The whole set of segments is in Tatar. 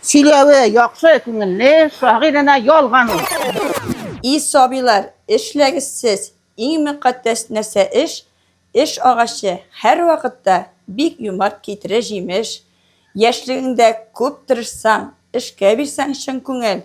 Сөйләве яхшы, күңелле, шагыйренә ялган ул. И сабыйлар, эшләгез сез, иң мөкатдәс нәрсә эш, эш агачы, һәрвакытта бик юмарт китерә җимеш, яшьлегеңдә күп тырышсаң, эшкә бирсәң чын күңел,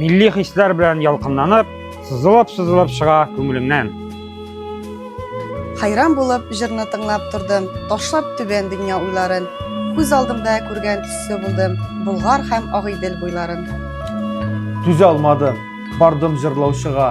Милли хисләр белән ялкынланып, сызылып-сызылып чыга күңелемнән. Хайран булып җырны тыңлап тордым, ташлап түбән дөнья уйларын. Күз алдымда күргән төсле булдым, Болгар һәм Агыйдел буйларын. Түзә алмадым, бардым җырлаучыга.